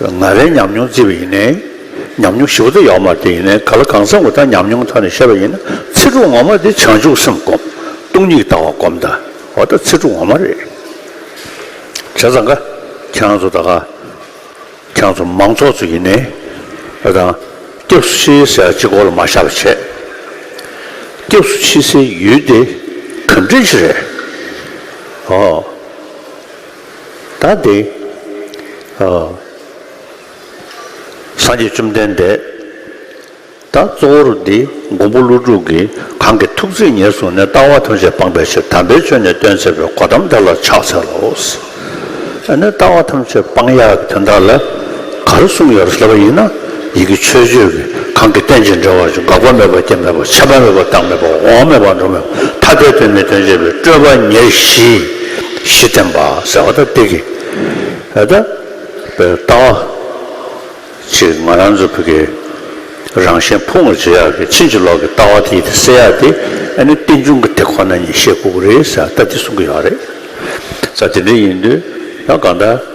ང་རའི་ཉམས་མྱོང་བརྩིས་པ་ཡིན་ནའི། ཉམས་མྱོང་ཞིབ་པོ་དེ་ཡོག་མར་དེ་ཡིན་ནའི་ག་ལ་གང་སེམས་ངོ་ད་ཉམས་མྱོང་ཐོག་ནས་བཤད་པ་ཡིན་ན་ཚིག་དྲུག་ངོ་མ་དེ་བྱང་ཆུབ་སེམས་སྒོམ། སྟོང་ཉིད་ལྟ་བ་སྒོམ་ད་ཨོ་ད་ཚིག་དྲུག་ངོ་མ་རེད། བྱས་ཙང་ཀ་ཁྱང་ཚོ་ད་ཀ་ཁྱང་ཚོ་མང་ཚོགས་ཚོ་ཡིན་ནའི་ཨོ་ད་སྐྱབས་སུ་མཆི་ཟེར་གཅིག་གོ་ལ་མ་ཤར་བ་བྱས། སྐྱབས་སུ་མཆི་སའི་ཡུལ་དེ་གངས་རི་ཆེ་རེད། ཨོ། ད་དེ། སངས་རྒྱས་བཅོམ་ལྡན་འདས། ད་གཙོ་བོར་འདི་འགོང་པོ་ཀླུ་དྲུག་གིས་གང་གི་ཐུགས་བརྩེས་ཉེར་བཟུང་ནས་ལྟ་བ་ཐམས་ཅད་སྤངས་པའི་ཕྱིར་དམ་པའི་ཆོས་ནི་སྟོན་བྱེད་པའི་གོ་དམ་དེ་ལ་ཕྱག་འཚལ་ལོ། ཡང་ན་ལྟ་བ་ཐམས་ཅད་སྤང་ཡག་དེ་དག་ལ་ག་རེ་གསུངས་ཡོད་ཟེར་བ་ཡིན་ན་ཡི་གེ་ཆོས་སྤྱོད་ཀྱི་གང་གི་རྟེན་ཅིང་འབྲེལ་བར་གྱི་འགག་པ་མེད་པ་སྐྱེ་མེད་པ་ཁྱད་པར་མེད་པ་རྟག་མེད་པ་འོང་མེད་པ་འགྲོ་མེད་པ་ཐ་དད་དོན་མེད་དོན་བྱེད་པའི་སྤྲོས་པ་ཉེར་བཞི། གཞི་བསྟན་པ་ཟེར་བ་ད་འདི་གི་ཨ་ད་པའི་ལྟ་བ་ཅིག་ང་རང་ཚོ་བོད་ཀྱི་རང་བཞིན་ཕུང་བར་བྱེད་ཡག་གི་ཕྱིན་ཅི་ལོག་གི་ལྟ་བ་དེ་ཡི་དེ་སེལ་ཡག་དེ་ཨ་ནི་རྟེན་འབྱུང་གི་དེ་ཁོ་ན་ཉིད་ཤེས་དགོས་ཀྱི་རེད་ཟེར་བ་ད་འདི་གསུང་གི་ཡོད་རེད་ད་དེ་འདྲ་ཡིན་དུས་ད་གང་ལྟར་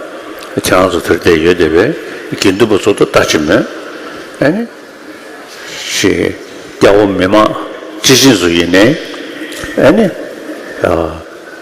ཁྱེད་རང་ཚོ་དེར་བསྡད་ཡོད་བསྡད་པས་དགེ་འདུན་པ་ཚོ་ཐོག་ལྟ་ཅི་མོད་ཨ་ནི་ཞེས་སྐྱ་བོ་མི་མང་སྤྱི་བྱིངས་སུ་ཡིན་ནའི་ཨ་ནི།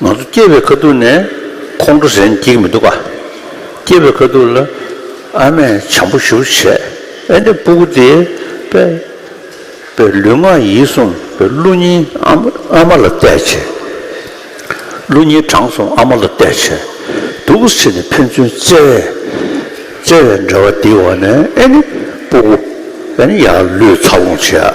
ང་ཚོ་སྐྱེས་པའི་ཁ་ཐུག་ནས་ཁོང་ཁྲོ་ཟེར་འགྱིག་མི་འདུག་ག། སྐྱེས་པའི་ཁ་ཐུག་ལ་ཨ་མས་བྱམས་པོ་ཞུ་བྱས་ཨེ་འདྲ་སྤུ་གུ་དེས་པས་པས་ལུས་ངག་ཡིད་གསུམ་པའི་ཀླུ་སྙིང་ཨ་མ་ལ་གཏད་བྱས། ཀླུ་སྙིང་དྲང་གསུམ་ཨ་མ་ལ་གཏད་བྱས་འདུག་གུ་ཕྱི་ནས་ཕན་ཚུན་བརྩེ་བས་བརྩེ་བའི་འབྲེལ་བ་འདིའི་འོག་ནས་ཨེ་ནི་སྤུ་གུ་ཨེ་ནི་ཡར་ལུས་ཚ་བོང་བྱས་ཨ།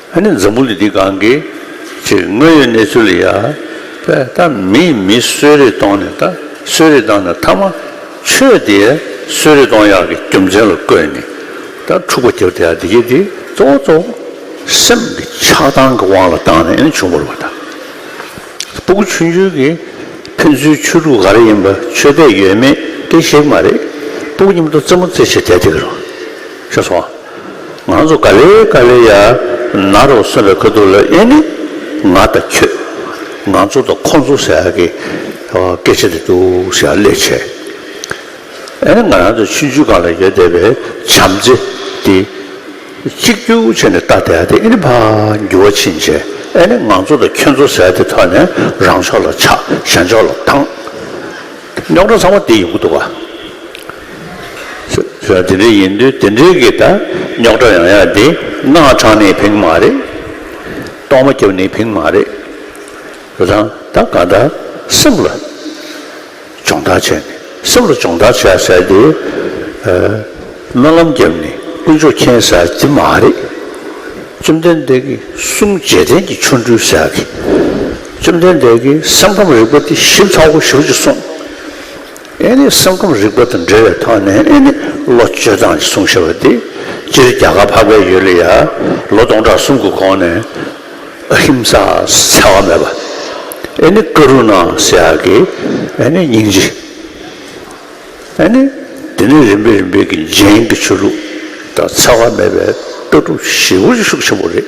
ཨ་ནི་འཛམ་བུ་ལི་འདི་གང་གི། ཅེས་དངོས་ཡོད་གནས་ཚུལ་ལ་ཡང། པའི་ད་མི་མི་གསོད་རེས་གཏོང་ནས་ད་གསོད་རེས་བཏང་ནས་མཐའ་མ། ཆོས་དེ་གསོད་རེས་གཏོང་ཡག་གི་རྒྱུ་མཚན་ལ་བཀོད་ནས། ད་འཁྲུག་པ་རྒྱབ་དེ་ཡང་འདི་སྐད་དེ་གཙོ་བོ་གཙོ་བོ། སེམས་ཀྱི་ཆགས་སྡང་གི་དབང་ལ་བཏང་ནས་ཨ་ནི་བྱུང་བ་རུ་བ་དང། སྤུ་གུ་ཆུང་ཆུང་གི། ཕན་ཚུན་ཆོས་དྲུག་ག་རེ་ཡིན་པ་ཆོས་དད་ཡོད་མེད་དེ་ཤེས་ཀྱི་མ་རེད། སྤུ་གུ་གཉིས་མ་གཏོགས་རྩེད་མོ་རྩེད་བྱེད་དད་དེ་གི་རུ། ཤོད་སོང། ང་ཚོ་ག་ལེ་ག་ལེ་ཡ་ན་རོ་གསུངས་པའི་ཁ་ཐུག་ལ་དབྱེ་ནི་ང་དང་ཁྱོད་ང་ཚོ་དང་ཁོ་ཚོ་ཟེར་ཡག་གི་སྐད་ཆ་རེད་འདུག་ཞེས་ཡང་ལས་བྱས། ཨ་ནི་ང་རང་ཚོ་ཆུ་མཇུག་སྒང་ལ་ཡོད་བསྡད་པའི་བྱམས་བརྩེ་དེ་གཅིག་གྱུར་བྱས་ནས་ལྟ་བསྡད་དེ་ཨི་ནི་ཕ་འགྱུར་བ་ཕྱིན་རྗེས་ཨ་ནི་ང་ཚོ་དང་ཁྱོད་ཚོ་ཟེར་དེ་ཐོག་ནས་རང་ཕྱོགས་ལ་ཆགས་གཞན་ཕྱོགས་ལ་འཐང། རྙོག་དྲ་ཚང་མ་འདི་ཡོང་གི་འདུག་ག། ཟེར་བ་དེ་འདྲའི་ཡིན་དུས་དེ་འདྲའི་གི་ད་རྙོག་དྲ་ཡང་ཡང་དེ་སྣ་དྲངས་ནས་བེང་མ་རེད། གཏོར་མ་བརྒྱབ་ནས་བེང་མ་རེད། རེད་དང་ད་ག་ད་སེམས་ལ་སྦྱོང་བརྡར་བྱས་ནས་སེམས་ལ་སྦྱོང་བརྡར་བྱས་ཟེར་དེ་སྨོན་ལམ་བརྒྱབ་ནས་དཀོན་མཆོག་མཁྱེན་ཟེར་དེ་མ་རེད། བཅོམ་ལྡན་འདས་ཀྱི་གསུང་རྗེས་དྲན་གྱི་ཆོ་འཕྲུལ་ཟེར་གི། བཅོམ་ལྡན་འདས་ཀྱི་སེམས་ཁམས་རིག་པ་དེ་ཞིབ་ཚགས་པོ་ཞུ་ཅིག་གསུངས། ཨེ་ནི་སེམས་ཁམས་རིག་པ་དང་འབྲེལ་བའི་ཐོག་ནས་ཨེ་ནི་ལོ་བཅོ་ཐང་ཞེས་གསུངས་ཤོར་བ་དེ་སྤྱིར་རྒྱ་གར་འཕགས་པའི་ཡུལ་ལ་ཡ་ལོ་སྟོང་ཕྲག་གསུམ་གྱི་གོང་ནས་ཨ་ཧིམ་ས་ཟེར་བ་མེད་པ། ཨེ་ནི་ཀ་རུ་ནཱ་ཟེར་ཡག་གི་ཨེ་ནི་སྙིང་རྗེ། ཨེ་ནི་དེ་ནས་རིམ་པས་རིམ་པས་ཀྱི་རྗེན་གྱི་ཆོས་ལུགས་དང་འཚེ་བ་མེད་པའི་ལྟ་གྲུབ་ཞེ་དགུ་ཅིག་ཤུགས་ཆེན་པོ་རེད།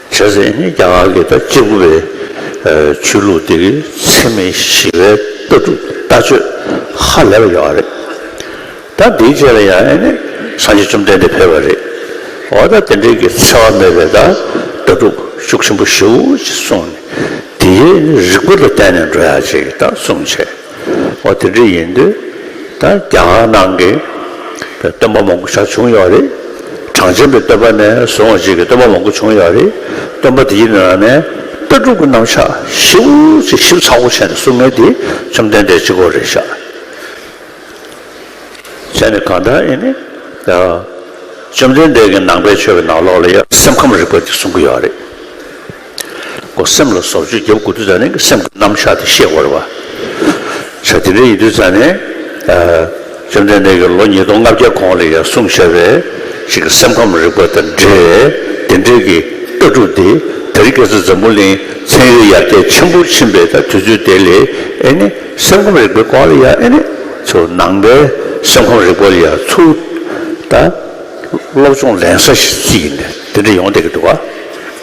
བྱས་ཟིན་རྒྱ་གར་གྱི་ཟླ་གཅིག་དགུ་པའི་ཆོས་ལུགས་འདི་གའི་འཚེ་མེད་ཞི་བའི་ལྟ་གྲུབ་ལྟ་སྤྱོད་ཧ་ལས་པ་ཡོད་པ་རེད། ད་འདིའི་རྗེས་ལ་ཡང་ཨེ་ནི་སངས་རྒྱས་བཅོམ་ལྡན་འདས་ཕེབས་པ་རེད། འོ་ད་དེ་འདྲའི་གི་འཚེ་བ་མེད་པའི་ལྟ་གྲུབ་ཤུགས་ཆེན་པོ་ཞུ་ཅེས་གསུངས་ནས་དེའི་རིགས་པ་ལ་བརྟེན་ནས་འགྲོ་ཡག་ཅེས་གསུངས་བྱས། ཨོ་དེ་འདྲ་ཡིན་དུས་ད་རྒྱ་གར་ནང་གི་སྟོན་པ་མང་པོ་ཞག་བྱུང་ཡོད་རེད། གྲངས་ཅན་པའི་སྟོན་པ་ནས་བཟུང་བ་བཅས་ཀྱི་སྟོན་པ་མང་པོ་བྱུང་ཡོད་རེད། སྟོན་པ་དེའི་ནང་ནས་ལྟ་གྲུབ་ཀྱི་རྣམ་གཞག་ཞིབ་པོ་ཆེ་ཞིབ་ཚགས་པོ་བྱས་ནས་གསུང་མཁན་དེ་བཅོམ་ལྡན་འདས་གཅིག་པོ་རེད་ཤག། གཞན་ནི་གང་ལྟར་ཨེ་ནི། བཅོམ་ལྡན་འདས་ཀྱི་ནང་པའི་ཆོས་ཀྱི་ནང་ལོགས་ལ་ཡང་སེམས་ཁམས་རིག་པ་འདི་གསུང་གི་ཡོད་རེད། གོ། སེམས་ལ་སོར་བཅུ་བརྒྱབ་དགོས་དུས་ཙཱ་ནན་གྱི་སེམས་ཀྱི་རྣམ་གཞག་དེ་ཤེས་དགོས་རེད་བ། ཆ་དེ་འདྲ་ཡིན་དུས་ཙཱ་ནན། བཅོམ་ལྡན་འདས་ཀྱིས་ལོ་ཉིས་སྟོང་ལྔ་བརྒྱའི་གོང་ལ་ཡང་གསུངས་བཞག་པའི་ཞིག་གི་སེམས་ཁམས་རིག་པ་དང་འབྲེལ་བའི་དེ་འབྲེལ་གྱི་ལྟ་གྲུབ་དེ་དེ་རིང་སྐལ་བཟང་འཛམ་བུ་གླིང་ཚན་ཡོད་ཡར་རྒྱས་ཆེན་པོར་ཕྱིན་པའི་དུས་ཚོད་དེ་ལས་ཨེ་ནི་སེམས་ཁམས་རིག་པའི་སྐོར་ལ་ཡང་ཨེ་ནི་ཚོ་ནང་པའི་སེམས་ཁམས་རིག་པ་ལ་ཡང་ཚུར་ལྟ། སློབ་སྦྱོང་ལེན་ས་ཞིག་ཡིན་དུས་དེ་འདྲ་ཡོང་བསྡད་ཀྱི་འདུག་བ།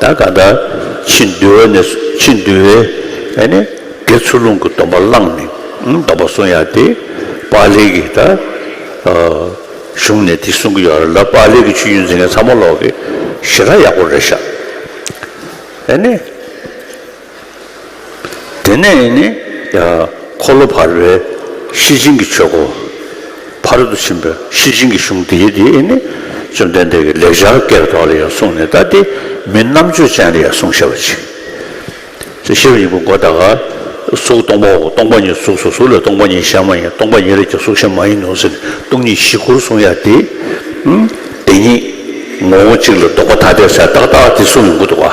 ད་ག་ད་ཕྱི་འདུལ་བ་ནས་ཕྱི་འདུལ་བའི་ཨ་ནི་དགེ་ཚུལ་ལུང་གི་སྡོམ་པ་བླངས་ནས་སྡོམ་པ་སྲུང་ཡ་དེ་པཱ་ལིའི་གི་ད་གཞུང་ནས་དེ་གསུང་གི་ཡོད་ར་ལ་པཱ་ལིའི་གི་ཆོས་རྒྱུན་འཛིན་མཁན་ཚང་མ་ལོག་གི་ཞེ་དྲག་ཡག་པོ་རེད་ཤག་ཨ་ནི། དེ་ནས་ནི། འཁོར་ལོ་བར་པའི་གཤེད་ཆེན་གྱི་ཆོས་སྒོ། བར་དུ་ཕྱིན་པའི་གཤེད་ཆེན་གྱི་གཞུང་འདིའི་དེ་ནི། བཅོམ་ལྡན་འདས་ཀྱིས་ལེགས་སྦྱར་བཀའི་མདོ་ལ་ཡང་གསུངས་ནས་ལྟ་སྟེ། མི་རྣམ་དཔྱོད་ཅན་ལ་ཡང་གསུངས་ཤེས་པར་བྱིན། ཅེས་ཤེས་པ་ཉིད་ཀྱི་སྒོ་དག། གཟུགས་སྟོང་པའོ་སྟོང་པ་ཉིད་གཟུགས་སོ་གཟུགས་ལས་སྟོང་པ་ཉིད་གཞན་མ་ཡིན་སྟོང་པ་ཉིད་ལས་ཀྱང་གཟུགས་གཞན་མ་ཡིན་ནོ་ཟེར་ནས་སྟོང་ཉིད་བཞི་སྐོར་གསུངས་ཡ་དེ། དེ་ཉིད་ངོ་བོ་གཅིག་ལ་ལྡོག་པ་ཐ་དད་སའི་རྟགས་དག་དེ་གསུངས་ཡོང་གི་འདུག་བ།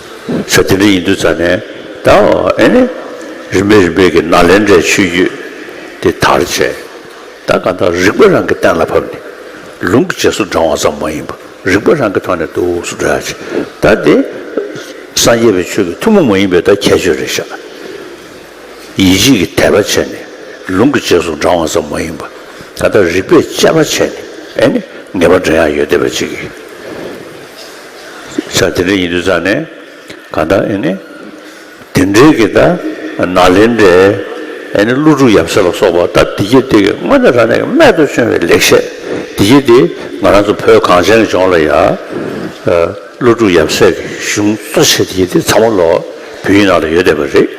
ས་དེ་འདྲ་ཡིན་དུས་ཙཱ་ནས་ད་ཨེ་ནས་རིམ་པས་རིམ་པས་ཀྱི་ནཱ་ལེནྡྲའི་ཆོས་བརྒྱུད་དེ་དར་བྱས། ད་གང་དག་རིག་པ་རང་གི་གཏན་ལ་ཕབ་ནས་ལུང་གི་རྗེས་སུ་འབྲང་བ་ཙམ་མ་ཡིན་པར་རིག་པ་རང་གི་ཐོག་ནས་དུག་སུ་འདྲ་བྱས་ད་དེ་སངས་རྒྱས་པའི་ཆོས་ཀྱི་ཐུན་མོང་མ་ཡིན་པའི་ད་ཁྱད་ཆོས་རེ་བཞག་ཡིད་བྱེད་ཀྱི་དད་པ་བྱས་ནས་ལུང་གི་རྗེས་སུ་འབྲང་བ་ཙམ་མ་ཡིན་པར་ད་ལྟ་རིག་པས་དཔྱད་པ་བྱས་ནས་ཨེ་ནས་ངེས་པར་འདྲེན་ཡག་ཡོད་བསྡད་པ་ཅིག་ཡིན། ཤ་དེ་འདྲ་ཡིན་དུས་ཙང་ནས་གང་ལྟར་ཨེ་ནི། དེ་འདྲའི་གི་ད་ན་ལེ་འདྲས་ཨེ་ནི་ཀླུ་སྒྲུབ་ཡབ་སྲས་ལ་སོགས་པ་ད་འདི་གྱེས་དེ་གི་སྔོན་ནས་རང་ཉིད་ཀྱི་རྨད་དུ་བྱུང་བའི་ལེགས་བཤད་འདི་གྱེས་དེ་ང་རང་ཚོ་བོད་གངས་ཅན་གྱི་ལྗོངས་ལ་ཡ། ཀླུ་སྒྲུབ་ཡབ་སྲས་ཀྱི་གཞུང་གཙོ་ཆེ་དེ་གྱེས་དེ་ཚ་མོ་ལོ་བུད་ཡིན་ནང་ལ་ཡོད་བསྡད་པ་རེད།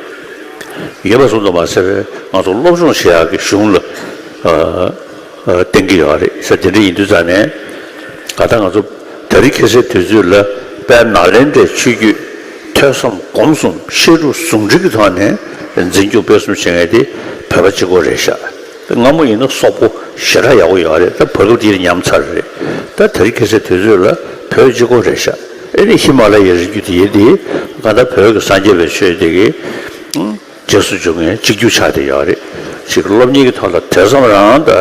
ཡོད་པ་གསུང་དུ་མ་གསལ་བས་ང་ཚོ་སློབ་སྦྱོང་བྱེད་ཡག་གི་གཞུང་ལ། བསྟན་གྱི་ཡོད་རེད་ཟེར་དེ་འདྲ་ཡིན་དུས་ཙང་ནས་ད་ལྟ་ང་ཚོ་ད་རིག་ཁེ་སེར་དུས་ཚོད་ལ་དཔལ་ནཱ་ལེནྡྲའི་ཆོས་བརྒྱུད་ཐོས་བསམ་སྒོམ་གསུམ་བཤད་སྒྲུབ་ཟུང་འབྲེལ་གྱི་ཐོག་ནས་འཛིན་སྐྱོང་སྤེལ་གསུམ་བྱེད་ངེས་དེ་བོད་པ་གཅིག་གོ་རེད་ཤག་སྔ་མོ་ཡིན་ན་སོག་པོ་ཞེ་དྲག་ཡག་པོ་ཡོད་རེད་ད་བར་སྐབས་དེའི་ཉམས་ཚར་རེད་ད་ད་རིག་ཁེ་སེར་དུས་ཚོད་ལ་བོད་གཅིག་གོ་རེད་ཤག་ཨེ་ནི་ཧི་མ་ལ་ཡའི་རི་རྒྱུད་དེ་ཡིན་དེ་གང་ལྟར་བོད་ཀྱི་སངས་རྒྱས་པའི་ཆོས་དེ་གི་རྗེས་སུ་འཇུག་མཁན་གཅིག་གྱུར་ཆགས་ཏེ་ཡོད་རེད། གཅིག་སློབ་གཉེར་གྱི་ཐོག་ལ་དེ་ཙམ་རང་ད་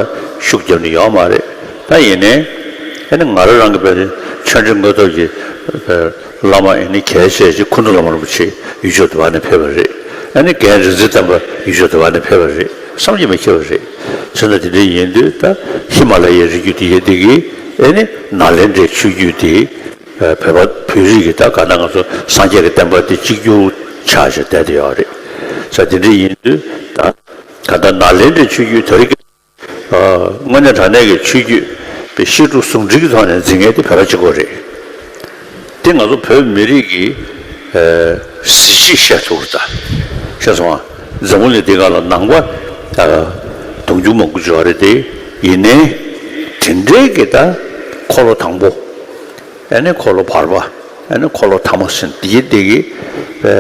ཤུགས་བརྒྱབ་ནས་ཡོད་མ་རེད། ད་ཡིན་ནའི། ཨེ་ནི་ང་རང་རང་གི་དཔེ་དེ་ཆོས་འབྲེལ་དངོས་སྟོབས་ཀྱི་བླ་མ་ཨེ་ནི་གལ་ཆེ་ཆེ་སྐུ་མདུན་བླ་མ་རིན་པོ་ཆེ་ཡུལ་ཕྱོགས་དུ་བ་ནས་ཕེབས་པ་རེད། ཨེ་ནི་རྒན་རིག་འཛིན་བསྟན་པ་ཡུལ་ཕྱོགས་དུ་བ་ནས་ཕེབས་པ་རེད་བསམ་གྱི་མི་ཁེལ་བ་རེད། ཚུལ་ན་དེ་འདྲ་ཡིན་དུས་ད་ཧི་མ་ལ་ཡའི་རི་རྒྱུད་དེ་ཡེ་དེ་གིས་ཨེ་ནི་ནཱ་ལེནྡྲའི་ཆོས་བརྒྱུད་དེ། བོད་པ་བོད་རིགས་ཀྱི་ད་ག་ན་ང་ཚོ་སངས་རྒྱས་ཀྱི་བསྟན་པ་འདི་གཅིག་གྱུར་ཆགས་ཞེས་བསྡད་དེ་ཡོད་རེད་ས་འདི་འདྲ་ཡིན་དུས་ད་ག་ད་ནཱ་ལེནྡྲའི་ཆོས་བརྒྱུད་དར་རྒྱས་དངོས་གནས་དྲང་གནས་ཀྱི་ཆོས་བརྒྱུད་པའི་བཤད་སྒྲུབ་ཟུང་འབྲེལ་གྱི་ཐོག་ནས་འཛིན་མཁན་དེ་བོད་པ་གཅིག་པོ་རེད་དེ་ང་ཚོ་བོད་མི་རིགས་ཀྱི་གཟི་བརྗིད་བཤད་ཐུབ་པ་ད་ཤེས་སོང་ང་འཛམ་བུ་གླིང་འདི་ག་ལ་ནང་པ་དུང་ཕྱུར་མང་པོ་འབྱོར་བ་རེད་དེ་ཡིན་ནའི་དེ་འདྲའི་གི་ད་འཁོར་ལོ་དང་པོ། ཨེ་ནི་འཁོར་ལོ་བར་པ་ཨེ་ནི་འཁོར་ལོ་ཐ་མ་སྲིན་འདི་ཡི་འདི་གི་བའི་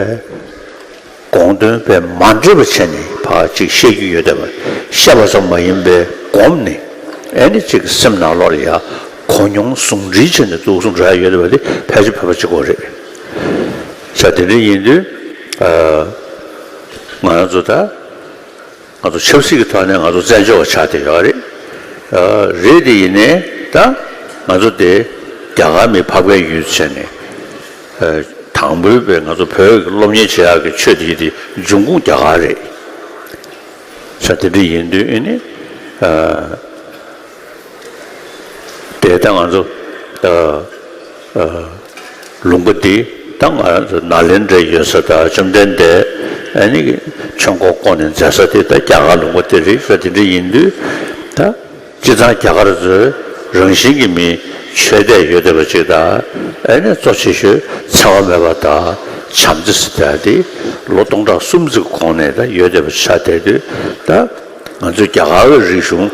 དགོངས་དོན་པས་མ་འདྲེས་པ་ཆད་ནི་བ་ཅིག་བཤད་རྒྱུ་ཡོད་དམ་བཤད་པ་ཙམ་མ་ཡིན་པའི་སྒོམ་ནི་ཨེ་ནི་ཅིག་སེམས་ནང་ལོག་ལ་ཡ་གོ་མྱོང་ཟུང་འབྲེལ་བྱས་ནས་འདུག་གསུངས་གྲ་ཡོད་པ་དེ་ཕལ་ཆེར་བོད་པ་གཅིག་གོ་རེད། ཆ་དེ་འདྲ་ཡིན་དུས་ང་རང་ཚོ་ད། ང་ཚོ་ཆབ་སྲིད་ཀྱི་ཐོག་ནས་ང་ཚོ་བཙན་བྱོལ་བ་ཆགས་བསྡད་ཡོད་རེད། རེད་དེ་ཡིན་ནའི་ད་ང་ཚོ་དེ་རྒྱ་གར་མི་ཕ་བཀའི་ཡུལ་ཟེར་ནས། དང་པོའི་བའི་ང་ཚོ་བོད་ཀྱི་སློབ་གཉེར་བྱེད་ཡག་གི་ཆོས་དེ་ཡིན་དེ་འབྱུང་ཁུངས་རྒྱ་གར་རེད། ཆ་དེ་འདྲ་ཡིན་དུས་ཨེ་ནི། དེ་ད་ང་ཚོ་ལུང་པ་འདི་ད་ང་ཚོ་ནཱ་ལེནྡྲའི་ཡོད་ས་དང་བཅོམ་ལྡན་འདས་ནི་ཆོས་འཁོར་བསྐོར་ནས་མཛད་ས་དེ་ད་རྒྱ་གར་ལུང་པ་དེ་རིག་ས་དེ་འདྲ་ཡིན་དུས་ད་སྤྱི་ཚང་རྒྱ་གར་ཚོའི་རང་བཞིན་གྱི་མི་ཆོས་དད་ཡོད་བསྡད་པ་ཅིག་ད་ཨེ་ནས་གཙོ་ཆེ་ཤོས་འཚེ་བ་མེད་པ་དང་བྱམས་བརྩེ་ས་དེ་ལོ་སྟོང་ཕྲག་སུམ་བརྩི་གོང་ནས་ད་ཡོད་བསྡད་པ་ཆགས་བསྡད་དུས་ད། ང་ཚོས་རྒྱ་གར་བའི་རིག་གཞུང་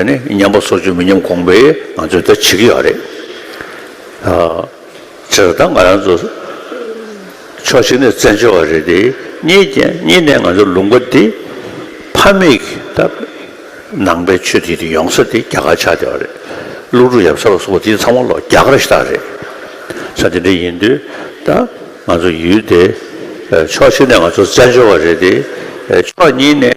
ནི་ཉམས་པ་སོ་ཅུང་མི་ཉམས་གོང་བས་ང་ཚོས་ད་བྱེད་ཀྱི་ཡོད་རེད། ཁྱེད་རང་དང་ང་རང་ཚོ་ཕྱོགས་གཅིག་ནས་བཙན་བྱོལ་བ་རེད་དེ། གཉིས་གཉིས་ནས་ང་ཚོ་ལུང་པ་འདི་ཕ་མེས་ཀྱི་ད་ནང་པའི་ཆོས་དེ་དེ་ཡོང་ས་དེ་རྒྱ་གར་ཆགས་བསྡད་པ་རེད། ཀླུ་སྒྲུབ་ཡབ་ས་ལ་སོགས་པ་དེ་ཚང་མ་ལོ་རྒྱ་གར་ཞིག་དག་རེད། ས་དེ་འདྲ་ཡིན་དུས་ད་ང་ཚོ་ཡུལ་དེ་ཕྱོགས་གཅིག་ནས་ང་ཚོ་བཙན་བྱོལ་བ་རེད་དེ། ཕྱོགས་གཉིས་ནས།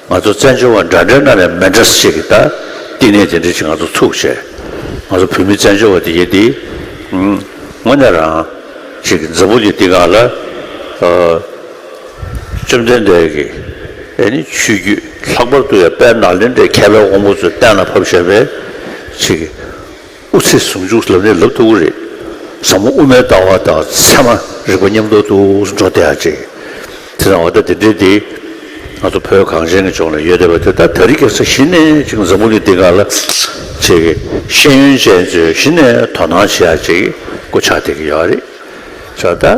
ང་ཚོ་བཙན་བྱོལ་བ་འདྲ་འདྲའི་ནང་ནས་མེ་འདྲ་སེ་གི་ད་བསྟི་གནས་དེ་འདྲའི་ཅིག་ང་ཚོ་ཚུགས་ཆེ། ང་ཚོ་བོད་མི་བཙན་བྱོལ་བ་དེ་ཡེ་འདི། ངོ་ནས་རང། ཅིག་མཛའ་བོ་གི་བསྟི་ག་ལ། བཅོམ་ལྡན་འདས་ཀྱི། ཨེ་ནི་ཆོས་རྒྱུད་ལྷག་པར་དུ་ཡ་དཔལ་ནཱ་ལེནྡྲའི་མཁས་པའི་དབང་པོ་ཚོའི་གཏན་ལ་ཕབ་ཤར་བའི། ཅིག། དབུ་ཚད་ཟུང་འཇུག་ལམ་ནི་ལབ་ཏུ་དབུ་རེད། ཟབ་མོ་དབུ་མའི་ལྟ་བ་དང་ཚད་མ་རིག་པ་མཉམ་འགྲོགས་ཏུ་འགྲོ་བདེ་ཡག་ཅིག། དེ་དང་བ་ད་དེ་འདྲའི་འདི། ང་ཚོ་བོད་གངས་ཅན་གྱི་ལྗོངས་ལ་ཡོད་བསྡད་པ་དེ་དག་ད་རིག་སྐྱག་ས་གཞི་ནས་ཅིག་འཛམ་བུ་གླིང་འདི་ག་ལ་ཆེ་གི་ཤེས་ཡོན་ཅན་ཚོས་གཞི་ནས་དོ་སྣང་བྱེད་ཡག་ཅིག་གི་གོ་ཆག་བསྡད་ཀྱི་ཡོད་རེད། ཆོག་དཱ།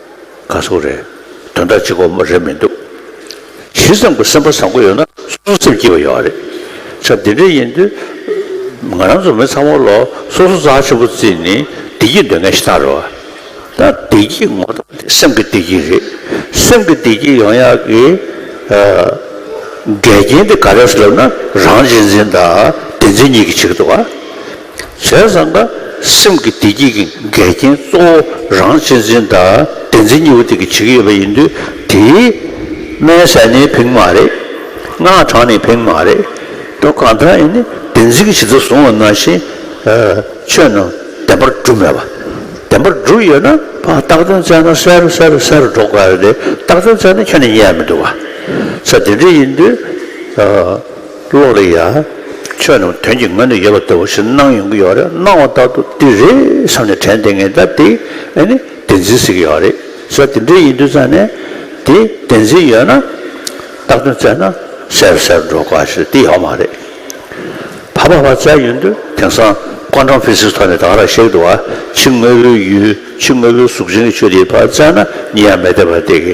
ག་སོགས་རེད། དོན་དག་གཅིག་གོ་མ་རེད་མི་འདུག། ཇི་ཙམ་གྱི་སེམས་པ་བཟང་པོ་ཡོད་ན་གསུང་སེམས་སྐྱིད་པ་ཡོད་རེད། ཆ་འདི་འདྲ་ཡིན་དུས། ང་རང་ཚོ་མི་ཚང་མ་ལོ་སོ་སོ་རྩ་ཆེན་པོ་བརྩིས་ནས་བདེ་སྐྱིད་འདོད་མཁན་ཞིག་གཏང་རོགས། ད་བདེ་སྐྱིད་ངོ་ཐོག་འདི་སེམས་ཀྱི་བདེ་སྐྱིད་རེད། སེམས་ཀྱི་བདེ་སྐྱིད་ཡོང་ཡག་གི། འགལ་རྐྱེན་འདི་ག་རེ་སུ་ལབ་ན་རང་གཅེས་འཛིན་དང་བདེན་འཛིན་གཉིས་ཀྱི་བྱེད་ཀྱི་འདུག་ཨ། བྱས་ཙང་ཀ་སེམས་ཀྱི་བདེ་སྐྱིད་ཀྱི་འགལ་རྐྱེན་གཙོ་བོ་རང་གཅེས་འཛིན་དང་བདེན་འཛིན་གཉིས་པོ་དེ་གི་བྱེད་ཀྱི་ཡོད་པ་ཡིན་དུས་དེའི་སྨན་ཟས་ནི་བེང་མ་རེད། སྔགས་གྲངས་ནི་བེང་མ་རེད། དོན་གང་ལྟར་ཡིན་ནི་བདེན་འཛིན་གྱི་བྱེད་ཐབས་བཟུང་བ་ནང་བཞིན་ཆོས་རྣམས་བདེན་པར་གྲུབ་མེད་པ། བདེན་པར་གྲུབ་ཡོད་ན་རྟགས་དོན་བཙལ་ན་གསལ་རུ་གསལ་རུ་གསལ་རུ་འགྲོ་ག་ལ་དེ་རྟགས་དོན་བཙལ་ན་ཁྱོད་ནི་ཉལ་ཡ་མི་འདུག་ག་ཚད་དེ་འདྲས་ཡིན་དུས། ཀློག་རེ་ཡ། ཆོས་རྣམས་དོན་གྱི་ངོས་ནས་ཡོད་པ་ལྟ་བུ་ཞིག་སྣང་ཡོང་གི་ཡོད་རེད་སྣང་བ་ལྟར་དུ་འདི་རེད་བསམ་ནས་དྲན་ཏེ་ངས་ད་དེ་ཨེ་ནི་བདེན་འཛིན་ཟེར་གྱི་ཡོད་རེད་ཟེར་དེ་འདྲ་ཡིན་དུས་ཙང་ནས་དེ་བདེན་འཛིན་ཡོད་ན་སྟག་སྟོན་བཙལ་ན་ཟེར་ཟེར་འགྲོ་དཀའ་ཞེས་དེ་ཡོད་མ་རེད། ཕ་ཕ་བ་བཙལ་ཡོང་དུས་དེང་སང Quantum Physics ཐོག་ནས་དག་རར་གཤེགས་འདུག་བ་ཕྱི་དངོས་པོའི་ཡུལ་ཕྱི་དངོས་པོའི་གཟུགས་ཅན་གྱི་ཆོས་དེའི་བར་བཙལ་ན་གཉིས་ཡང་མེད་བསྡད་པར་བསྡད་ཀི་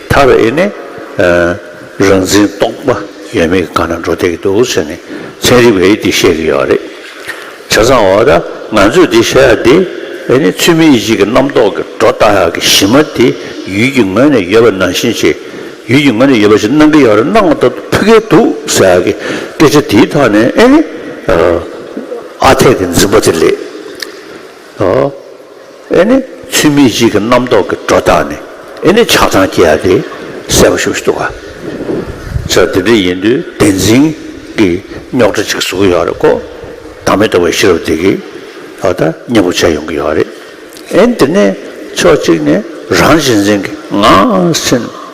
ཐག་རེད་ཨེ་ནི། རང་འཛིན་རྟོག་པ་ཡོད་མེད་གང་ན་འགྲོ་བསྡད་ཀྱི་འདུག་ཟེར་ནས་ཚན་རིག་པས་འདི་བཤད་ཀྱི་ཡོད་རེད། བྱ་ཚང་འོ་ད་ང་ཚོས་འདི་བཤད་ཡག་འདི་ཨེ་ནི་ཚུལ་མིན་གཞིག་གི་རྣམ་རྟོག་གི་སྒྲོ་བཏགས་ཡག་གི་གཞི་མ་དེ་ཡུལ་གྱི་ངོས་ནས་ཡོད་པ་ནང་བཞིན་བྱས་ཡུལ་གྱི་ངོས་ནས་ཡོད་པ་ཞིག་གནང་གི་ཡག་རེད་གནང་མ་ཐག་ཏུ་ཕུད་ཀའི་འདུག་ཟེར་ཡག་གི་སྐད་ཆ་དེའི་ཐོག་ནས་ཨེ་ནི་ཨ་འཐས་ཀྱི་འཛིན་པ་དེ་ལེགས། ཨོ། ཨེ་ནི་ཚུལ་མིན་གཅིག་གི་རྣམ་རྟོག་གི་སྒྲོ་བཏགས་ནས་ཨེ་ནི་ཆགས་སྡང་སྐྱེ་བ་དེ་སེལ་བར་ཞུགས་འདུག་ག། ཟེར་དེ་འདྲ་ཡིན་དུས་བདེན་འཛིན་གྱི་རྙོག་དྲ་གཅིག་བཟོ་གི་ཡོད་རེད་ཀོ། བདག་མེད་རྟོགས་པའི་ཤེས་རབ་དེ་གིས་ད་ལྟ་མཉེས་པོ་བྱས་ཡོང་གི་ཡོད་རེད། ཨེ་ནི་དེ་ནས་ཕྱོགས་གཅིག་ནས་རང་གཅེས་འཛིན་གྱི་ངང་སེམས།